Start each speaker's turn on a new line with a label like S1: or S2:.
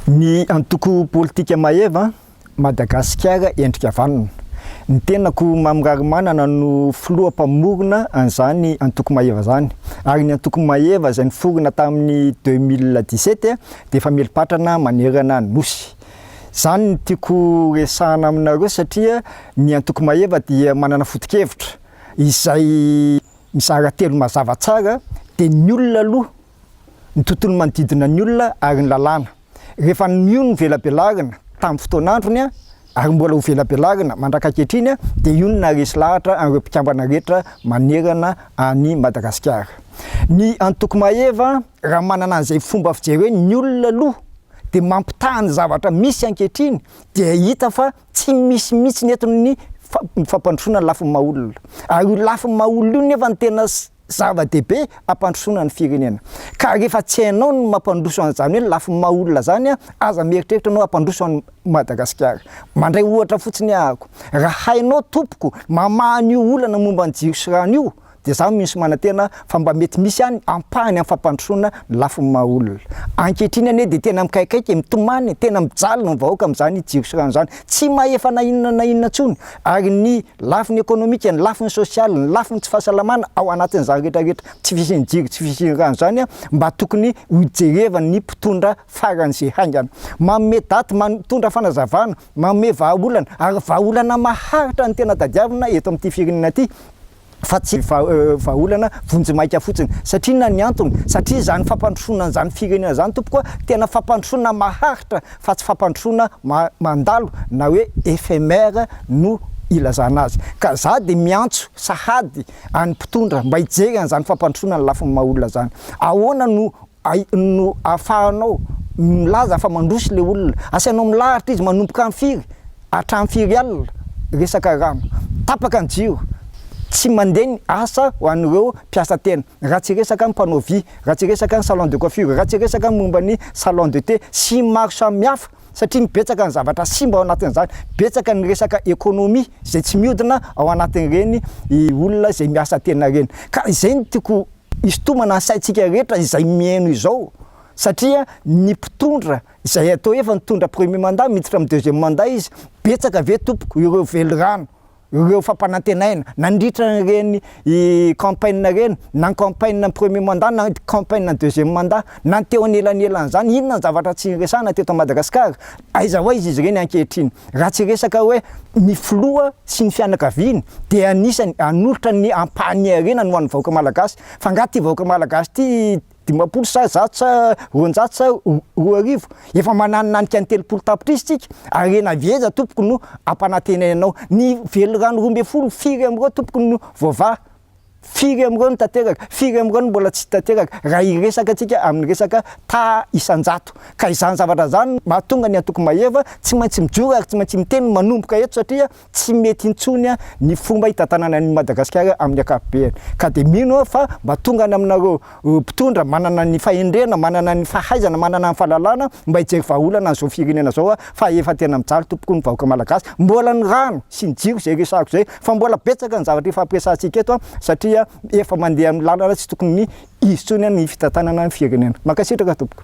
S1: Ny antoko politika Maeva, Madagasikara Endrika Vanona. Ny tenako Mamy Raharimanana no filoha mpamorona an'izany antoko Maeva izany. Ary ny antoko Maeva izay niforona tamin'ny deux mille dix-sept dia famerim-patrana manerana ny Nosy. Izany no tiako resahana aminareo satria ny antoko Maeva dia manana foto-kevitra izay mizara telo mazava tsara dia ny olona aloha ny tontolo manodidina ny olona ary ny lalàna. Rehefa nio ny velabelarina tamin'ny fotoan'androny ary mbola ho velabelarina mandraka ankehitriny dia io no naharesy lahatra an'ireo mpikambana rehetra manerana an'i Madagasikara. Ny antoko Maeva raha manana an'izay fomba fijery hoe ny olona aloha dia mampitaha ny zavatra misy ankehitriny dia hita fa tsy misy mihitsy eto ny fampandrosoana ny lafiny maha olona. Ary io lafiny maha olona io nefa no tena zava-dehibe hampandrosoana ny firenena ka rehefa tsy hainao ny mampandroso an'izany hoe ny lafiny maha olona zany aza mieritreritra anao hampandroso an'i Madagasikara. Mandray ohatra fotsiny aho ako, raha hainao tompoko mamaha an'io olana momba ny jiro sy rano io dia za mino sy manantena fa mba mety misy any ampahany amin'ny fampandrosoana ny lafiny maha olona. Ankehitriny anie dia tena mikaikaika e, mitomany e, tena mijaly ny vahoaka amin'izany jiro sy rano zany, tsy mahefa na inona na inona intsony, ary ny lafiny ekonomika, ny lafiny sosialy, ny lafiny tsy fahasalamana ao anatin'izany rehetrarehetra tsy fisian'ny jiro, tsy fisian'ny rano izany mba tokony hojerevan'ny mpitondra faran'izay haingana. Manome daty, mitondra fanazavana, manome vahaolana, ary vahaolana maharitra no tena tadiavina eto amin'ity firenena ity. fa tsy vahaolana vonjimaika fotsiny. Satria inona ny antony? Satria izany fampandrosoana an'izany firenena izany tompoko a, tena fampandrosoana maharitra fa tsy fampandrosoana mandalo na hoe éphémère no ilazana azy. Ka za dia miantso sahady an'ny mpitondra mba hijery an'izany fampandrosoana ny lafiny maha olona izany. Ahoana no ai- no ahafahanao milaza fa mandroso ilay olona. Asainao milaharitra izy, manomboka amin'ny firy, hatramin'ny firy alina resaka rano. Tapaka ny jiro, tsy mandeha ny asa ho an'ireo mpiasa tena, raha tsy resaka ny mpanao vy, raha tsy resaka ny salon de coiffure, raha tsy resaka ny momba ny salon de thé, sy ny maro samihafa, satria betsaka ny zavatra simba ao anatin'izany, betsaka ny resaka économie izay tsy mihodina ao anatin'ireny olona izay miasa tena ireny. Ka izay no tiako Isintomana ny saintsika rehetra izay mihaino izao satria ny mpitondra izay atao efa nitondra premier mandat miditra amin'ny deuxième mandat izy, betsaka ve tompoko ireo velirano, ireo fampanantenaina nandritra an'ireny campaign ireny na ny campaign ny premier mandat na ny campaign ny deuxième mandat na ny teo anelanelan'izany, inona ny zavatra tsy niresahana teto Madagasikara? Aiza ho aiza izy ireny ankehitriny? Raha tsy resaka hoe ny filoha sy ny fianakaviany dia anisany hanolotra ny ampahany harena ny ho an'ny vahoaka malagasy fa angaha ity vahoaka malagasy ity dimampolo sa zato sa roanjato sa roa arivo? Efa mananinanika ny telopolo tapitrisa isika, harena avy aiza tompoko no hampanantenainao? Ny velirano roa ambin'ny folo firy amin'ireo tompoko no voavaha? Firy amin'ireo no tanteraka? Firy amin'ireo no mbola tsy tanteraka? Raha hiresaka antsika amin'ny resaka taha isan-jato. Ka izany zavatra izany no mahatonga ny Antoko Mahefa tsy maintsy mijoro ary tsy maintsy miteny manomboka eto satria tsy mety intsony ny fomba hitantanana an'i Madagasikara amin'ny ankapobeny. Ka dia mino aho fa mba tonga any aminareo mpitondra manana ny fahendrena, manana ny fahaizana, manana ny fahalalana mba hijery vahaolana an'izao firenena izao fa efa tena mijaly tompoko ny vahoaka malagasy, mbola ny rano sy ny jiro izay resahako izay fa mbola betsaka ny zavatra hifampiresahantsika eto satria efa mandeha amin'ny lalana tsy tokony hisy intsony ny fitantanana ny firenena. Mankasitraka tompoko.